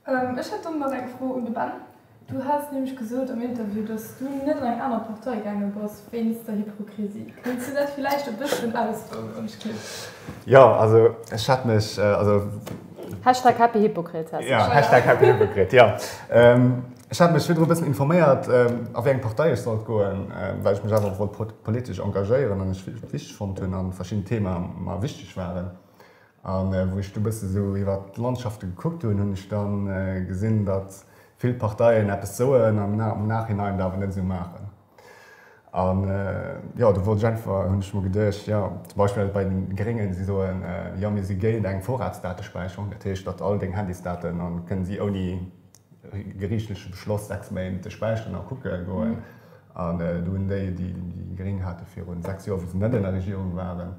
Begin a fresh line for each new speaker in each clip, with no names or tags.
Ech hätt dann nach eng Fro un de Ben. Du has nämlech gesot am Interview, datt du net an eng aner Partei gaange bass wéinst der Hypokrisie. Kéints du dat villäicht e bësschen ausfoueren? Jo,
also ech hat mech, also.
Hashtag HappyHypocrite heißt ech. Hashtag
HappyHypocrite, jo. Ech hat mech virdru e bëssen informéiert, a wéi eng Partei ech sollt goen, well ech mech awer wollt politesch engagéieren an ech et wichteg fonnt hunn a verschidden Theemae mer wichteg waren. A wou ech du e bësse sou iwwer d'Landschafte gekuckt hunn, hunn ech da gesinn, datt vill Parteien eppes soen an am Nachhinein et awer net esou maachen. A jo, do wollt ech einfach, hunn ech mer geduecht, jo zum Beispill bei de Gréngen, si soen, jo mir si géint eng Vorratsdatespäicherung, dat heescht, datt all deng Handysdaten, a kënne si ouni geriichtleche Beschloss sechs Méint späicheren a kucke goen. An do hunn déi, déi Gréng hate virun sechs Joer, wou se net an der Regierung waren,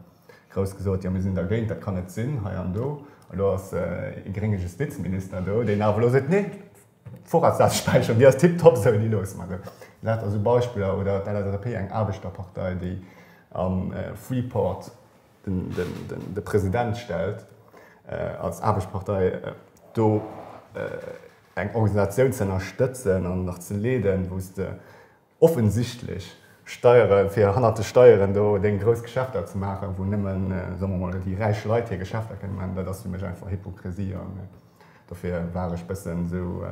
Grouss gesot, jo mir sinn dergéint, dat kann net sinn, hei an do. Elo ass ee grénge Justizminister do, deen awer elo seet, nee, d'Vorratsdatspäicherung, déi ass tiptop esou, déi loosse mer esou. Dat ass esou Beispiller. Oder d'LSAP, eng Aarbechterpartei, déi am Freeport de President stellt als Aarbechtspartei, do eng Organisatioun ze ënnerstëtzen an nach ze leeden, wou s de Offensichtlech steiere fir hannert de Steieren do deng grouss Geschäfter ze maachen, wou nëmmen, soe mer mol, déi räich Leit hir Geschäfter kënnen maachen, dat ass fir mech einfach Hypokrisie an dofir war ech bëssen esou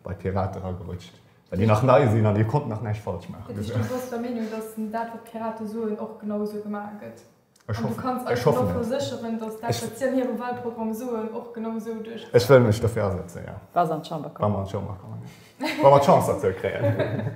bei d'Pirate eragerutscht, well déi nach nei sinn an dir konnt nach näischt falsch maachen. Dat heescht, du bass der Meenung,
datt dat, wat d'Pirate soen, och genau esou gemaach gëtt? An du kanns eis dann
och
versécheren, datt dat, wat si an hirem Walprogramm soen, och genau esou duerchgeet? Ech wëll mech dofir asetzen,
jo. Wa se an d'Chamber
kommen.
Wa
mer
d'Chance dozou kréien.